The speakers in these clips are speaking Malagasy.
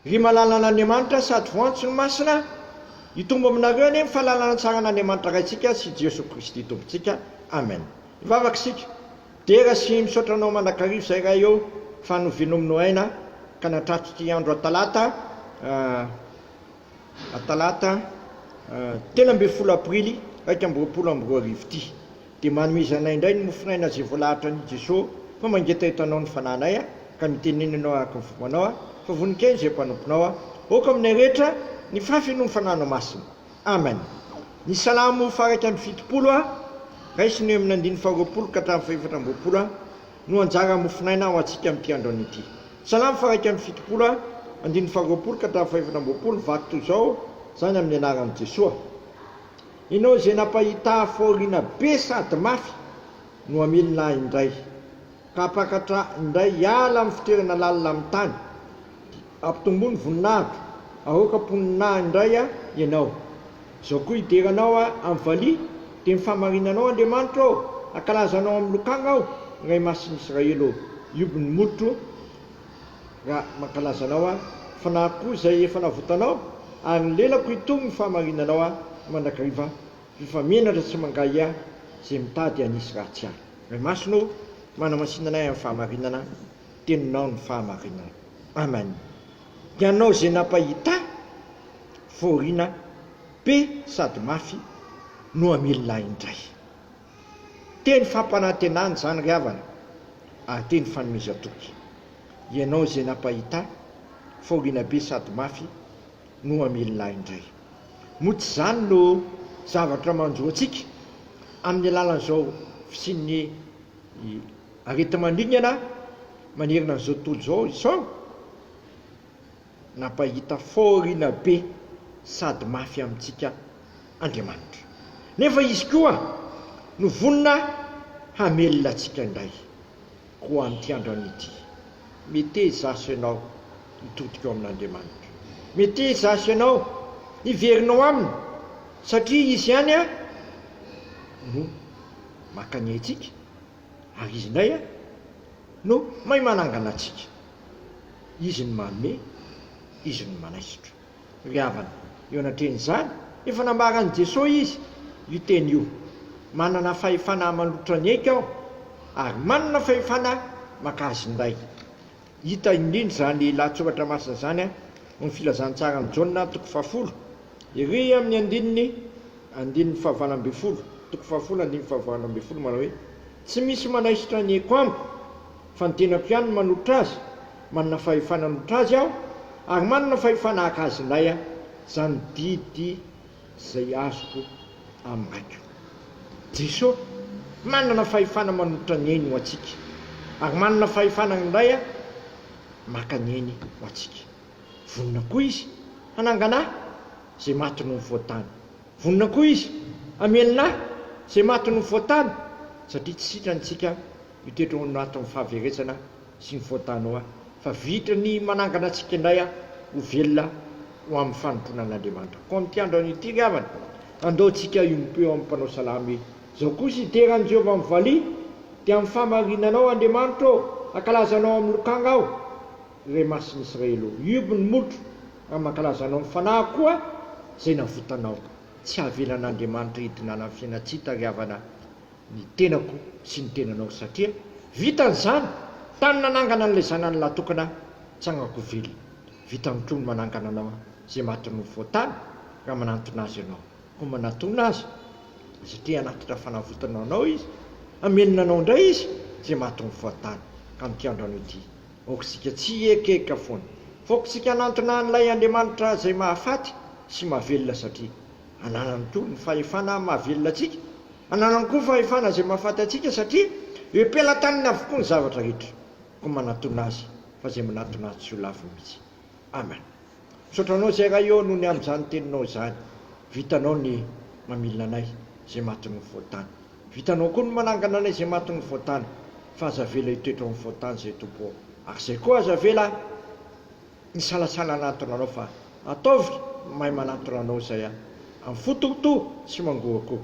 Ry malalan'Andriamanitra sady voantso ny Masina, hitombo aminareo anie ny fahalalana tsara an'Andriamanitra Raintsika sy Jesoa Kristy Tompontsika. Amen. Hivavaka isika. Dera sy misaotra Anao mandrakariva izay Ray ô, fa novianao mino aina ka nahatratra ity andro Atalata, Atalata, telo ambin'ny folo Aprily iraika amby roapolo amby roa arivo ity. Dia manomeza anay indray ny mofon'aina izay voalahatra an'i Jesoa fa mangetaheta Anao ny fanahinay a, ka mitenena ianao araka ny fombanao a, fa voninkainy izay mpanomponao a, aoka aminay rehetra ny fahafeno ny Fanahinao Masina. Amen. Ny Salamo faha iraika amby fitopolo a, raisina eo amin'ny andininy faha roapolo ka hatramin'ny faha efatra amby roapolo a, no anjara mofon'aina ho antsika amin'ity androany ity. Salamo faha iraika amby fitopolo a, andininy faha roapolo ka hatramin'ny faha efatra amby roapolo, vaky toy izao izany amin'ny anaran'i Jesoa. Enao izay nampahità fahoriana be sady mafy no hamelona ahy indray, ka hampakatra indray hiala amin'ny fitoerana lalina amin'ny tany, dia hampitomboa ny voninahiko, hahoaka mponina ahy indray aho Ianao. Izao koa hidera Anao aho amin'ny valiha, dia ny fahamarinanao Andriamanitro ô, hankalaza Anao amin'ny lokanga aho, Ray Masin'Israely ô. Hioby ny molotro. Raha mankalaza anao aho, fanahy koa izay efa navotanao, ary ny lelako hitony ny fahamarinanao aho mandrakariva, rehefa menatra sy mangahy ahy izay mitady hanisy ratsy ahy. Ray Masina ô, manamasina anay amin'ny fahamarinana, teninao ny fahamarinana. Amen. Dia hanao izay nampahita ahy, fôrina be sady mafy no hamilona ahy indray. Teny fampanantenana izany ry havana ary teny fanomezan-toky. Ianao izay nampahita fahoriana be sady mafy no hamelona ahy indray. Moa tsy izany no zavatra manjo antsika amin'ny alalan'izao fisian'ny areti-maningana manerana an'izao tontolo izao? Nampahita fahoriana be sady mafy amintsika Andriamanitra. Nefa Izy koa no vonona hamelona antsika indray ho amin'ity androany ity. Mete izaho sy ianao hitodika ao amin'Andriamanitra. Mete izaho sy ianao hiverina ao Aminy, satria Izy ihany no maka ny aintsika. Ary Izy indray an, no mahay manangana antsika. Izy no manome, Izy no manaisotra. Ry havana, eo anatrehan'izany, efa nambaran'i Jesoa Izy io teny io, Manana fahefana hamalotra ny aiko Aho, ary manana fahefana maka azy indray. Hita indrindra izany lahatsoratra masina izany ao amin'ny Filazantsaran'i Jaona, toko fahafolo, ery amin'ny andininy, andininy fahavalo ambin'ny folo, toko fahafolo andininy fahavalo ambin'ny folo, manao hoe, Tsy misy manaisotra ny aiko amiko, fa ny tenako ihany no manolotra azy, manana fahefana hanotra azy aho, ary manana fahefana haka azy indray aho. Izany didy izay azoko hamaky o. Jeso manana fahefana manolotra ny ainy ho antsika ary manana fahefana indray maka ny ainy ho antsika. Vonona koa Izy hanangana ahy izay maty no nifoha-tany. Vonona koa Izy hamelona ahy izay maty no nifoha-tany satria tsy sitranintsika io toetra ho natin'ny fahaverezana sy ny faux Danois fa vitra ny manangana antsika indray a ho velona ho amin'ny fanompoana an'Andriamanitra koa amin'ity andro anio ity ry havana andao tsika hiombom-po eo amin'ny mpanao salamo e zao kosa hidera an'i Jehovah amin'ny valiha dia amin'ny fahamarinana ao Andriamanitra ô hankalaza anao amin'ny lokanga aho re masin'i Israely ô hiobo ny molotro ary mankalaza anao amin'ny fanahy koa izay navotanao tsy havelan'Andriamanitra hidinana amin'ny fiainantsita ry havana ny tenako sy ny tenanao satria vitany izany tany nanangana an'ilay zanany lahy tokana aho tsagnako velona vitany koa ny manangana anao izay matin'ny mofo tany raha manantona azy ianao koa manatona azy satria hanatitra fanavotana ho anao izy hamenona anao indray izy izay matin'ny mofo tany ka mikiandro anao ity aokitsika tsy hiekaeka foana fa aokitsika hanantona an'ilay Andriamanitra izay mahafaty sy mahavelona satria Ananany koa ny fahefana mahavelona antsika. Ananany koa ny fahefana izay mahafaty antsika satria eo am-pelatanany avokoa ny zavatra rehetra. Koa manatona Azy fa izay manatona Azy tsy ho lavo mihitsy. Amen. Misaotra Anao izay Ray ô noho ny amin'izany Teninao izany. Vitanao ny mamilina anay izay matin'ny ho voatany. Vitanao koa ny manangana anay izay matin'ny ho voatany. Fa aza avela hitoetra ho ny voatany izay Tompo ô. Ary izay koa aza avela Misalasala hanantona anao fa ataovy mahay manantona anao izay a! Amin'ny fo Tompo tsy mangoakoa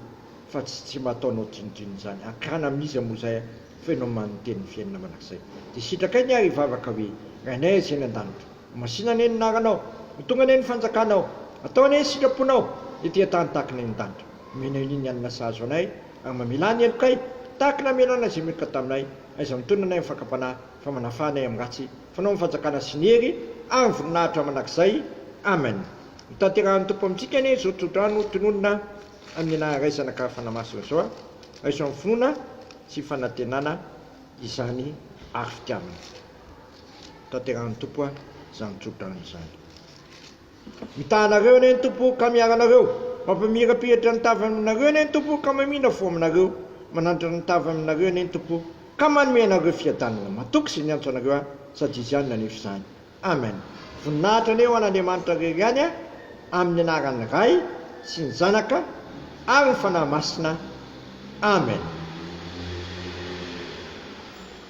fa tsy tsy mba ataonao drinodrinona izany. Akana amin'iza moa izay a! fa ianao maninteny ny fiainana mandrakizay. Dia sitrakay ny ary hivavaka hoe, Rainay Azy any an-danitra, ho masina anie ny anaranao, ho tonga anie ny fanjakanao, atao anie ny sitraponao ety an-tany tahaka ny any an-danitra. Omenay anie ny hanina sahazo anay ary mamelà ny helokay tahaka ny namelàna izay meloka taminay. Aiza mitonona anay amin'ny fakam-panahy fa manafà anay amin'ny ratsy Fanao ny fanjakana sy ny hery ary ny voninahitra mandrakizay. Amen. Ho tanterahin'ny Tompo amintsika anie izao tsodrano tononina amin'ny anarany Ray, Zanaka ary Fanahy Masina izao. Raiso amin'ny finoana sy fanantenana izany ary fitiavana. Ho tanterahin'ny Tompo izany tsodrano izany. Mitahanareo anie ny Tompo ka miaro anareo, mampamirapiratra ny tavany aminareo anie ny Tompo ka mamina fo aminareo, manandratra ny tavany aminareo anie ny Tompo ka manome anareo fiadanana. Matoky izay niantso anareo ahy, sady Izy ihany nanefa izany. Amen. Voninahitra anie ho an'Andriamanitra rery ihany amin'ny anaran'ny Ray sy ny Zanaka ary ny Fanahy Masina. Amen.